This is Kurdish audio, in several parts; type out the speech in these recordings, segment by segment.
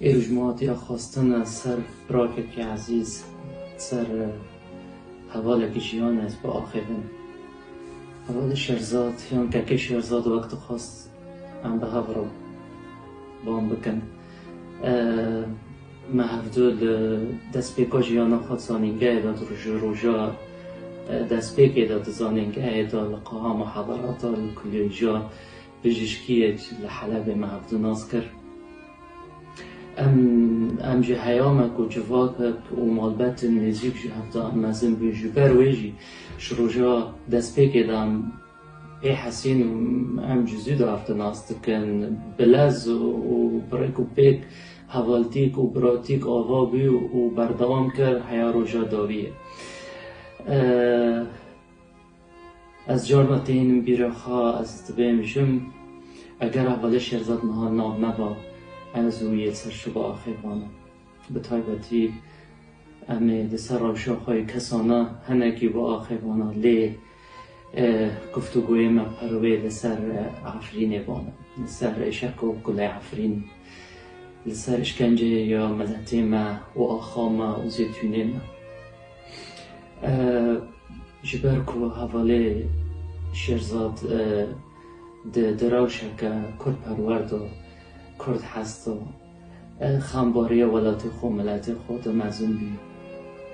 Êro ji Malatya xwestin ser firakekî ezîz, ser hevalekî jiyan ez biaxivin. Hevalê Şerzad yan kekê Şerzad wek dixwest em bi hev re wan bikin. Me hev du li destpêka jiyana xwe di zanîngehê de, di ji roja destpêkê de di zanîngehê de, li qeha muheberata, li kulîja, Bijîşkiyek li Helebê me hat nas kir, Em ji heya me ku civakek û malbetên nêzîk ji hev de em mezin bûn, ji ber wê jî ji roja destpêkê de em pê hesîn û em ji zû de hev di nas dikin. Bi lez û bi rêk û pêk hevaltîk û biratîk ava bû û berdewam kir, Heya roja dawî ye. Ez carna têhînim bîra xwe ez divê mijim, eger Avelê Şêrzad niha nav neba, ez û yê ser şiva axê vana. Bi taybetî em ê li ser rewşa xwe yê kesana hinekî bi axê vana lê guftûgoyê me perwê li ser Efrînê vana, li ser êşeqo gulê Efrînê, li ser îşkenceyê ya miletê me û axa me û zêtûnê me. Ji ber ku hevalê Şêrzad di di rewşeke kurdperwer de kurd hest e, xem barê welatê xwe û miletê xwe de mezin bû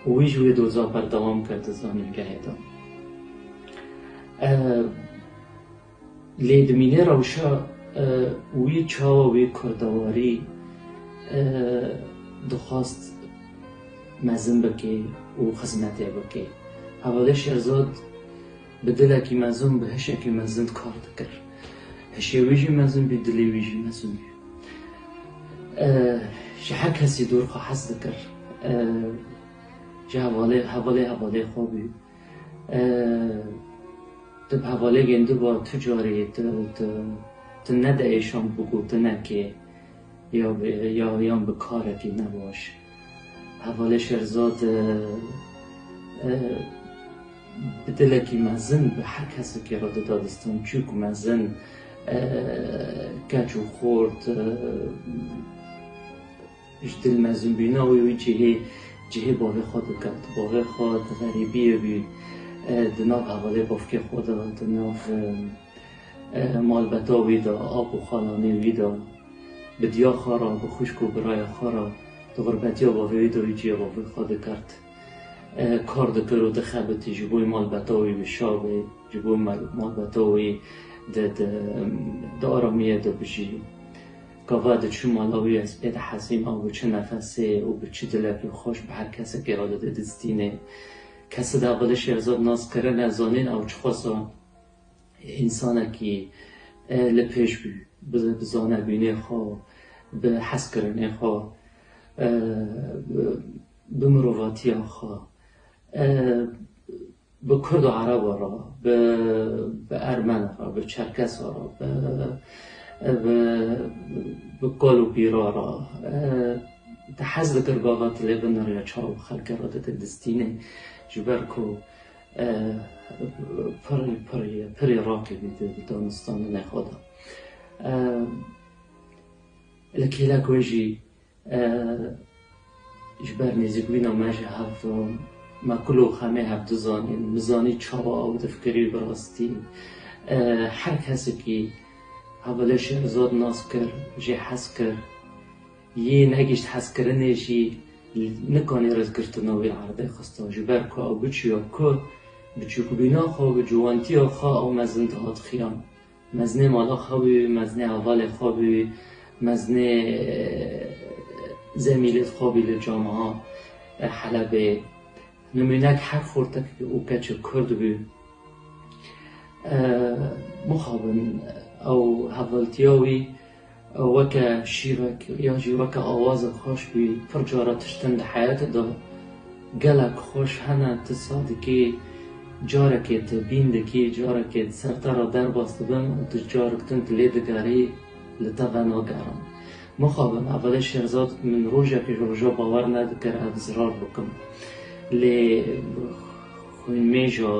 û wî ji wê doza berdewam kir di zanîngehê de. Lê dimîne rewşa wî çawa wî kurdewarî dixwast mezin bike û xizmetê bike. Hevadê Şehzad bi dilekî mezin û bi hişekî mezin kar dikir. Hişê wî jî mezin bû, dilê wî jî mezin bû. Ji her kesî dûr xwe hez dikir. Ji hevalê hevalê xwe bû. Tu bi hevalêgên din ve tu carî tu ne di êşan bi gotinekê yan bi karekî ne baş. Hevalê Şerzad bi dilekî mezin bi her kesekê re dida distan çûk mezin, keç û xort, Ji dil mezin bîna wê wî cihê cihê bavê xwe diket. Bavê xwe di xerîbiyê bî di nav hevalê bavkê xwe de, di nav malbeta wî de, ap û xalanê wî de, bi diya xwe re, bi xwişk û biraya xwe re di xurbetiya bavê wî de wî cihê bavê xwe dikert. Kar dikir û dixebitî ji bo malbeta wî bişa be, ji bo malbeta wî di aramiyê de bijî. Gava diçû mala wî ez pê dihezîm ew bi çi nefesê û bi çi dilekê xweş bi her kesekê re dide dizdînê. Kesi de bila Şêrezad nas kirine zanîn ew çixwesa însanekî e li pêş bû bi bizane bînê xwe û bi hezkirinê xwe e bi mirovatiya xwe e Bi kurd û ereba re, bi bi ermena re, bi çerkesa re, bi bi bi kal û pîra re te hez dikir gava tu lê binirî çav û xelkê re dide distînê ji ber ku pirî pirî pirî raqî bî di danistanê nexwe de. Li kêlek wê jî. Ji ber nêzîkbûna me ji hevdûn, me kul û xemê hevdu zanîn. Min zanî çawa ew difikirî bi rastî. Her kesekî hev li Şêrezad nas kir, jê hez kir. Yê negihîşt hezkirinê jî nikanî rêzgirtina wî erdê xista. Ji ber ku ew biçûya ku, biçûkbûna xwe û ciwantiya xwe ew mezin dihat xiyan. Mezinê mala xwe bû, mezinê hevalê xwe bû, mezinê zemîlê xwe bû li camiha Helebê. Nimûnek her xortek û keçek Kurd bû. Mixabin ew hevaltiya wî. Ew weke şîrek yan jî weke awazek xweş bî, pir cara tiştin di heyetê de gelek xweş hene, tu saz dikî, carekê tebîn dikî, carekê di ser te re derbas dibin û tu carek din tu lê digerî, li te venagerin. Mixabin evvelê Şehzad min rojek ji rojan bawer nedikir ev zirar bikim. Lê xwînmêja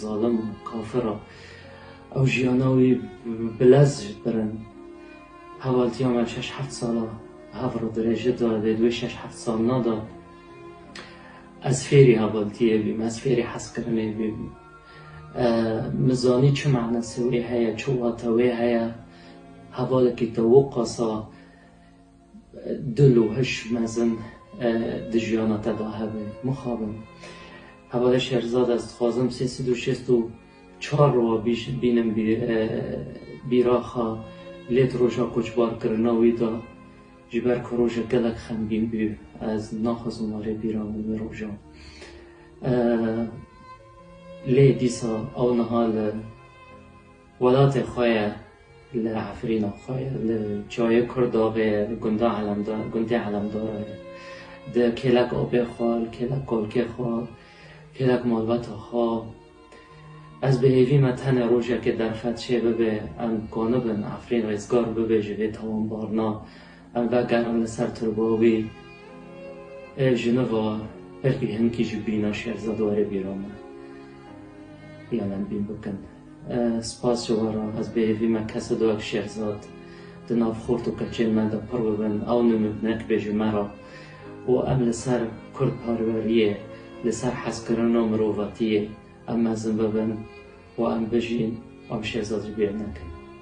zalim û kafir a. Ew jiyana wî bi lez ji pir in. Hevaltiya me şeş heft sal a bi hev re dirêje da, lê di wê şeş heft salina de ez fêrî hevaltiyê bîm, ez fêrî hezkirinê bîm. Min zanî çi manasê wê heye, çi wate wê heye hevalekî te û qasa. Dil û hiş mezin di jiyana te de hebe. Mixabin. Hevalê Şehrizad ez dixwazim sê sed û şêst û çar re wa bînim bîraxa lê di roja koçbarkirina wî de ji ber ku rojek gelek xemgîn bû ez naxwazim warê bîra min wê rojan. Lê dîsa ew niha li. Welatê xwe ye li Efrîna xwe ye, li Çayê Kurdaxê ye, li gunda Elemdar, gundê Elemdara ye. Di kêlek apê xwe, li kêlek kalkê xwe, kêlek malbata xwe. Ez bi hêvî me tenê rojekê derfet çê bibe, em dikanibin Efrîn rêzgar bibe ji vê tawanbarina, em vegerin li ser turba wî. Ê jiniva belkî hinkî jî bîna şêrzedarê bîra me. Yan em bîn bikin. Spas ji we re, ez bêhêvî me kes dido ev şêxzad di nav xort û qilçên me de pir bibin, ew nimûnek bê ji me re û em li ser kurdparweriyê, li ser hezkirin û mirovatiyê em mezin bibin û em bijîn, em şêxzad jî bêhêv nekin.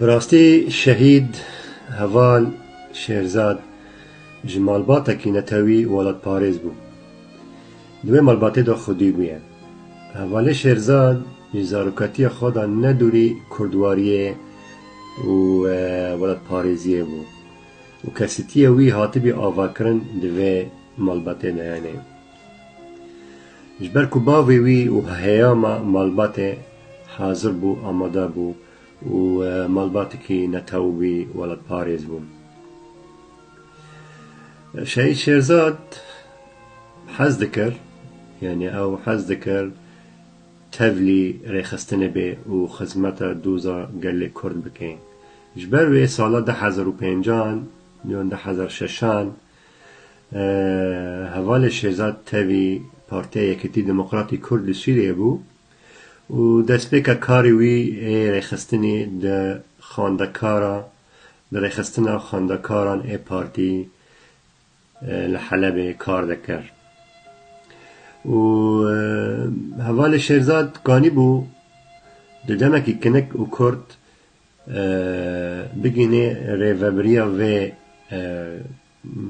Bi rastî Şehîd Heval Şêrzad ji malbatekî netewî û welatparêz bû. Di wê malbatê de xwedî bûye. Hevalê Şêrzad ji zaroketiya xwe de ne dûrî kurdwariyê û welatparêziyê bû û kesîtiyê wî hatibî avakirin di vê malbatê de hene. Ji ber ku bavê wî û heyama malbatê hazir bû, amade bû û malbatekî netew wî welatparêz bû. Şehîd Şêrzad hez dikir, yanî ew hez dikir tevlî rêxistinê bê û xizmeta doza gelê Kurd bike. Ji ber wê sala du hezar û pêncan yan du hezar û şeşan Hevalê Şêzad tevî Partiya Yekitî Demokratî Kurd li Sûriyeyê bû û destpêka karê wî ê rêxistinê di xwendekara di rêxistina xwendekaran ê partî li Helebê kar dikir û hevalê Şêrzad ganîbû di demekî kinik û kurt bigihînê rêveberiya vê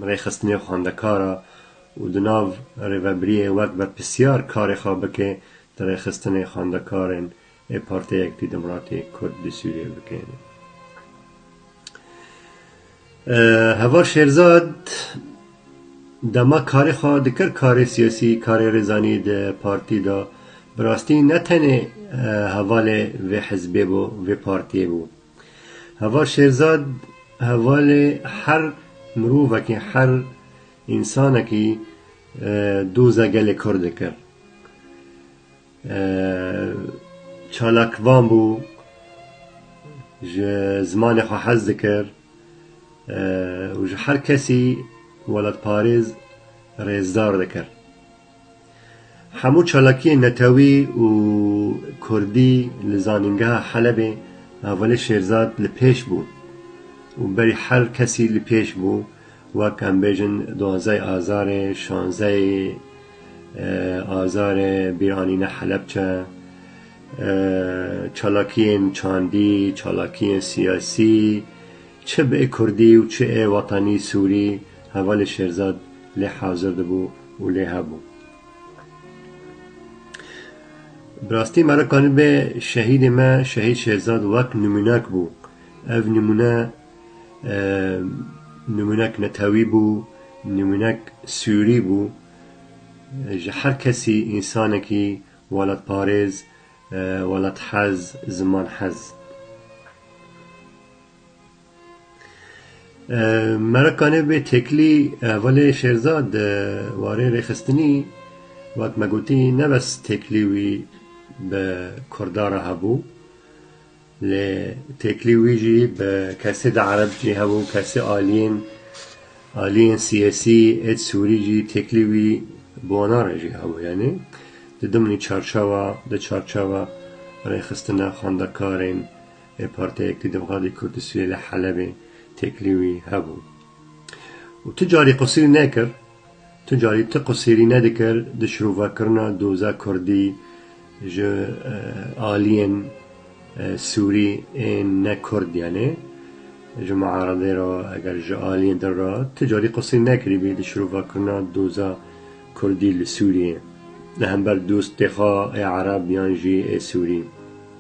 rêxistinê xwendekar a û di nav rêveberiyê wek berpirsiyar karê xwe bike di rêxistinê xwendekarên ê Partiya Yekitî Demokratî Kurd di Sûriyê bike. Heval Şêrzad dema karê xwe dikir karê siyasî, karê rêzanî di partî de, bi rastî ne tenê hevalê vê hizbê bû, vê partiyê bû. Heval Şêrzad hevalê her mirovekî, her însanekî doza gelê Kurd dikir. Çalakvan bû, ji zimanê xwe hez dikir û ji her kesî welatparêz rêzdar dikir. Hemû çalakiyên netewî û kurdî li zanîngeha Helebê Avalê Şêrzad li pêş bû û berî her kesî li pêş bû Wek em bêjin duanzey Azarê, şanzey Azarê bîr anîne Helepçe. Çalakiyên çandî, çalakiyên siyasî çi bi ê kurdî û çi ê wetanî sûrî hevalê Şêrzad lê hazir dibû û lê hebû. Bi rastî me re kanîbê şehîdê me Şehîd Şêrzad wek nimûnek bû. Ev nimûne. Nimûnek netewî bû, nimûnek sûrî bû. Ji her kesî însanekî welatparêz, welathez, zimanhez. Merakanê bê têkilî hevalê Şêrzad di warê rêxistinî wek me gotî ne bes têkilî wî bi Kurda re hebû. Lê têkilî wî jî bi kesê di ereb jî hebû, kesê aliyên aliyên siyasî êd sûrî jî têkilî wî bi wana re jî hebû. Yanî di dimnî çarçewa di çarçewa rêxistina xwendekarên ê partiyê ku di Xadê Kurdisûyê li Helebê têkilî wî hebû. Û tu carî qisirî nekir. Tu carî ti qusêrî nedikir di şirovekirina doza kurdî ji aliyên sûrî ên ne kurd yanê ji miaredê re eger ji aliyên din re ti carî qusêrî nekirîbî di şirovekirina doza kurdî li sûriyê li hember dostê xwe ê ereb yan jî ê sûrî.